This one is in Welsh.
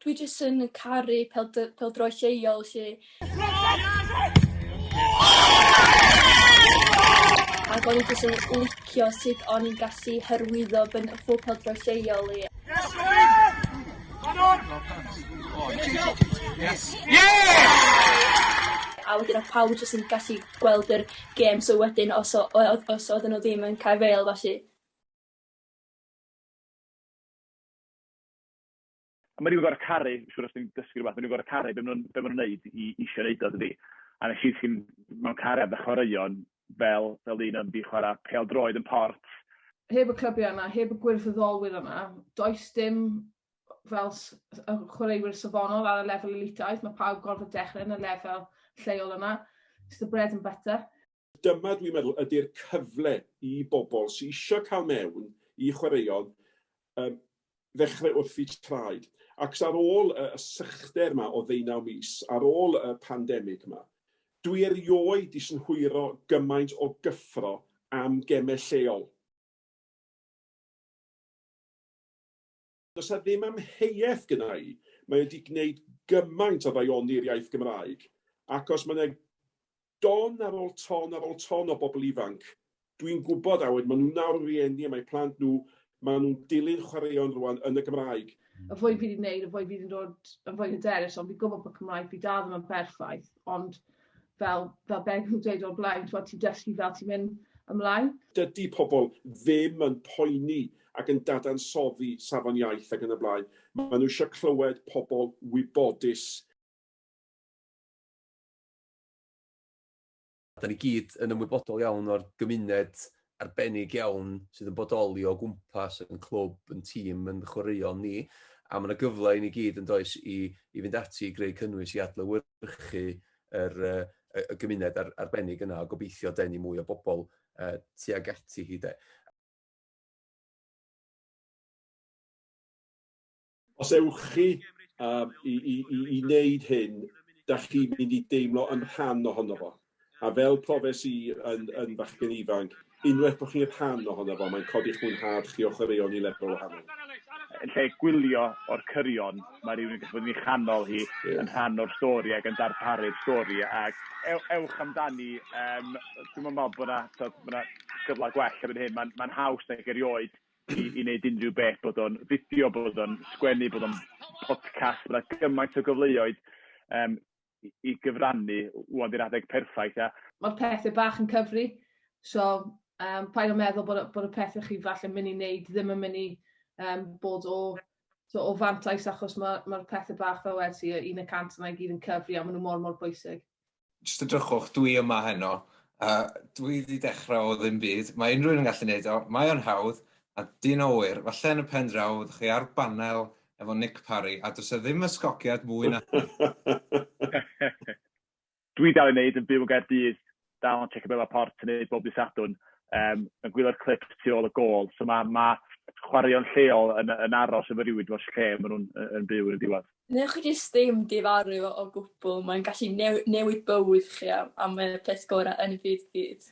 Dwi jyst yn caru pêl- pêl-droed lleol 'lly. Ac o'n i jyst yn licio sut o'n i'n gallu hyrwyddo fy n- fy pêl-droed lleol i. A wedyn odd pawb jyst yn gallu gweld yr gêm so wedyn os o- o- odd os oddan n'w ddim yn cae' fêl felly A maen nhw'n gorfod caru, siŵr os dwi'n dysgu rhywbeth, maen nhw'n gorfod caru be maen nhw'n be maen nhw'n wneud i isio wneud o, dydi? A wnes i ddisgyn mewn cariad â chwaraeon fel fel un yn mynd i chwarae pêl-droed yn Port. Heb y clybiau yna, heb y gwirfoddolwyr yna, does dim fel chwaraewyr safonol ar y lefel elitaidd, mae pawb gorfod dechrau yn y lefel lleol yna, it's the bread and butter. dyma dwi'n meddwl ydy'r cyfle i bobl sy isio cael mewn i chwaraeon um, ddechrau wrth y traed. Ac ar ôl y sychder yma o ddeunaw mis, ar ôl y pandemig yma, dwi erioed di synhwyro gymaint o gyffro am gemau lleol. Does 'na ddim amheuaeth gynna' i, mae o 'di gneud gymaint o ddaioni'r iaith Gymraeg, ac os ma' 'na don ar ôl ton ar ôl ton o bobl ifanc, dwi'n gwybod, a wedyn ma' nhw'n nawr yn rieni a mae plant nhw, ma' nhw'n dilyn chwaraeon rŵan yn y Gymraeg. Y fwy fi 'di neud, y fwy fi 'di dod yn fwy hyderus, ond fi'n gwybod bod Cymraeg fi dal ddim yn berffaith, ond fel fel be' fi'n dweud o'r blaen, t'mod ti'n dysgu fel ti'n mynd ymlaen. Dydi pobl ddim yn poeni ac yn dadansoddi safon iaith ac yn y blaen. Maen nhw eisiau clywed pobl wybodus. Dan ni gyd yn ymwybodol iawn o'r gymuned arbennig iawn sydd yn bodoli o gwmpas yn clwb, yn tîm, yn chwaraeon ni, a mae yna gyfle i ni gyd yn does i, i fynd ati i greu cynnwys i adlewyrchu yr, y, y gymuned ar, arbennig yna a gobeithio denu mwy o bobl uh, tuag ati hi de. Os ewch chi i wneud hyn, da chi'n mynd i deimlo yn rhan ohono fo. A fel profes i yn fachgen ifanc, unwaith bod chi'n rhan ohono fo, mae'n codi'ch mwynhad chi o chwaraeon i lefel wahanol. Yn lle gwylio o'r cyrion. Mae rhywun yn gallu bod yn ei chanol hi, yn rhan o'r stori ac yn darparu'r stori ac ew- ewch amdani. Yym, dwi'm yn meddwl bod 'na, tibod, ma' 'na gyfle gwell erbyn hyn. Mae'n mae'n haws nag erioed i i wneud unrhyw beth, bod o'n fideo, bod o'n sgwennu, bod o'n podcast, ma' 'na gymaint o gyfleoedd, yym, i, i gyfrannu, wwan di'r adeg perffaith, ia? Mae'r pethau bach yn cyfri, so um, paid o meddwl bod, bod y pethau chi falle mynd i wneud ddim yn mynd i um, bod o, so, o fantais achos mae'r ma, pethau bach fel wedi ti, un y cant yna i gyd yn cyfri a maen nhw mor mor bwysig. Just y drychwch, dwi yma heno, a dwi wedi dechrau o ddim byd, mae unrhyw un yn gallu gwneud o, mae o'n hawdd, a dyn o wyr, falle yn y pen draw, ydych chi ar banel efo Nick Parry, a does e ddim ysgogiad mwy na hynny. Dwi dal i wneud, yn byw yn Gaerdydd, dal yn checio Bela Port yn neud bob dydd Sadwrn, um, yn gwylio'r clips tu ôl y gol, so mae ma chwaraeon lleol yn, yn aros efo rhywun dros lle maen nhw'n yn byw yn y diwedd. Newch chi jyst ddim difaru fo o gwbl, mae'n gallu new newid bywyd chi am, am y peth gorau yn y byd gyd.